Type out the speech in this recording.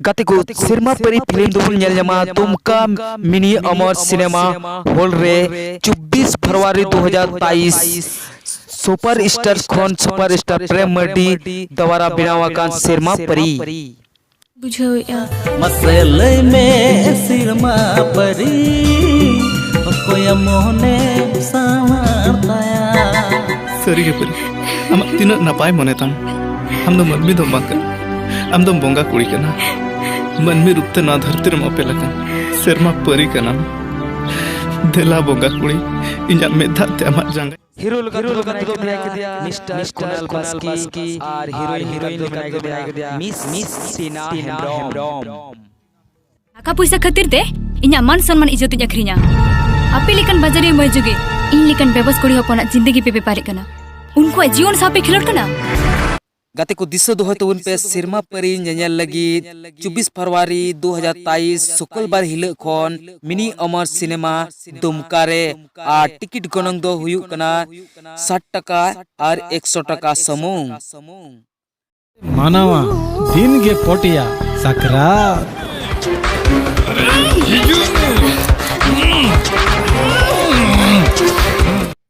ᱜᱟᱛᱮ ᱠᱚ ᱥᱮᱨᱢᱟ ᱯᱟᱹᱨᱤ ᱯᱷᱤᱞᱢ ᱫᱚᱵᱚᱱ ᱧᱮᱞ ᱧᱟᱢᱟ ᱫᱩᱢᱠᱟ ᱢᱤᱱᱤ ᱚᱢᱚᱨ ᱥᱤᱱᱮᱢᱟ ᱦᱚᱞ ᱨᱮ ᱪᱚᱵᱵᱤᱥ ᱯᱷᱮᱵᱽᱨᱩᱣᱟᱨᱤ ᱫᱩ ᱦᱟᱡᱟᱨ ᱵᱟᱭᱤᱥ ᱥᱩᱯᱟᱨ ᱥᱴᱟᱨ ᱠᱷᱚᱱ ᱥᱩᱯᱟᱨ ᱥᱴᱟᱨ ᱯᱨᱮᱢ ᱢᱟᱨᱰᱤ ᱫᱟᱣᱟᱨᱟ ᱵᱮᱱᱟᱣ ᱟᱠᱟᱱ ᱥᱮᱨᱢᱟ ᱯᱟᱹᱨᱤ ᱵᱩᱡᱷᱟᱹᱣᱮᱜᱼᱟ ᱢᱟᱥᱮ ᱞᱟᱹᱭ ᱢᱮ ᱥᱮᱨᱢᱟ ᱯᱟᱹᱨᱤ ᱚᱠᱚᱭᱟ ᱢᱚᱱᱮ ᱥᱟᱶᱟᱨ ᱛᱟᱭᱟ ᱥᱟᱹᱨᱤᱜᱮ ᱯᱟᱹᱨᱤ ᱟᱢᱟᱜ ᱛᱤᱱᱟᱹᱜ ᱱᱟᱯᱟᱭ ᱢᱚᱱᱮ ᱛᱟᱢ ᱟᱢ ᱫᱚ ᱢᱟᱹᱱᱢᱤ ᱫᱚᱢ ᱵᱟᱝ ᱠᱟᱱᱟ ᱟᱢ ᱫᱚᱢ ᱵᱚᱸᱜᱟ ᱠᱩᱲᱤ ᱠᱟᱱᱟ ᱢᱟᱹᱱᱢᱤ ᱨᱩᱯ ᱛᱮ ᱱᱚᱣᱟ ᱫᱷᱟᱹᱨᱛᱤ ᱨᱮᱢ ᱚᱯᱮᱞ ᱟᱠᱟᱱ ᱥᱮᱨᱢᱟ ᱯᱟᱹᱨᱤ ᱠᱟᱱᱟᱢ ᱫᱮᱞᱟ ᱵᱚᱸᱜᱟ ᱠᱩᱲᱤ ᱤᱧᱟᱹᱜ ᱢᱮᱫ ᱫᱟᱜ ᱛᱮ ᱟᱢᱟᱜ ᱡᱟᱸᱜᱟ ᱦᱤᱨᱳ ᱞᱮᱠᱟ ᱦᱤᱨᱳ ᱞᱮᱠᱟ ᱫᱚ ᱢᱮᱱᱟᱭ ᱠᱮᱫᱮᱭᱟ ᱢᱤᱥᱴᱟᱨ ᱠᱩᱱᱟᱞ ᱵᱟᱥᱠᱤ ᱟᱨ ᱦᱤᱨᱳᱭᱤᱱ ᱦᱤᱨᱳᱭᱤᱱ ᱫᱚ ᱢᱮᱱᱟᱭ ᱠᱮᱫᱮᱭᱟ ᱢᱤᱥ ᱢᱤᱥ ᱥᱤᱱᱟ ᱦᱮᱢᱵᱨᱚᱢ ᱴᱟᱠᱟ ᱯᱚᱭᱥᱟ ᱠᱷᱟᱹᱛᱤᱨ ᱛᱮ ᱤᱧᱟᱹᱜ ᱢᱟᱱ ᱥᱚᱱᱢᱟᱱ ᱤᱡᱽᱡᱚᱛ ᱤᱧ ᱟᱹᱠᱷᱨᱤᱧᱟ ᱟᱯᱮ ᱞᱮᱠᱟᱱ ᱵᱟᱡᱟᱨᱤᱭᱟᱹ ᱢᱟᱹᱭ ᱡᱩᱜᱮ ᱤᱧ ᱞᱮᱠᱟᱱ ᱵᱮᱵᱚᱥ ᱠᱩᱲᱤ ᱦᱚᱯᱚᱱᱟᱜ ᱡᱤᱱᱫᱮᱜᱤ ᱯᱮ ᱵᱮᱯᱟᱨᱮᱫ ᱠᱟᱱᱟ ᱩᱱᱠᱩᱣᱟᱜ ᱡᱤᱭᱚᱱ ᱥᱟᱶ ᱯᱮ ᱠᱷᱮᱞᱳᱰ ᱠᱟᱱᱟ ᱜᱟᱛᱮ ᱠᱚ ᱫᱤᱥᱟᱹ ᱫᱚᱦᱚᱭ ᱛᱟᱵᱚᱱ ᱯᱮ ᱥᱮᱨᱢᱟ ᱯᱟᱹᱨᱤ ᱧᱮᱧᱮᱞ ᱞᱟᱹᱜᱤᱫ ᱪᱚᱵᱵᱤᱥ ᱯᱷᱮᱵᱽᱨᱩᱣᱟᱨᱤ ᱫᱩ ᱦᱟᱡᱟᱨ ᱛᱟᱭᱤᱥ ᱥᱩᱠᱚᱞ ᱵᱟᱨ ᱦᱤᱞᱟᱹᱜ ᱠᱷᱚᱱ ᱢᱤᱱᱤ ᱚᱢᱚᱨ ᱥᱤᱱᱮᱢᱟ ᱫᱩᱢᱠᱟ ᱨᱮ ᱟᱨ ᱴᱤᱠᱤᱴ ᱜᱚᱱᱚᱝ ᱫᱚ ᱦᱩᱭᱩᱜ ᱠᱟᱱᱟ ᱥᱟᱴ ᱴᱟᱠᱟ ᱟᱨ ᱮᱠᱥᱚ ᱴᱟᱠᱟ ᱥᱩᱢᱩᱝ᱾ ᱢᱟᱱᱟᱣᱟ ᱫᱤᱱ ᱜᱮ ᱯᱚᱴᱭᱟ ᱥᱟᱠᱨᱟᱛ᱾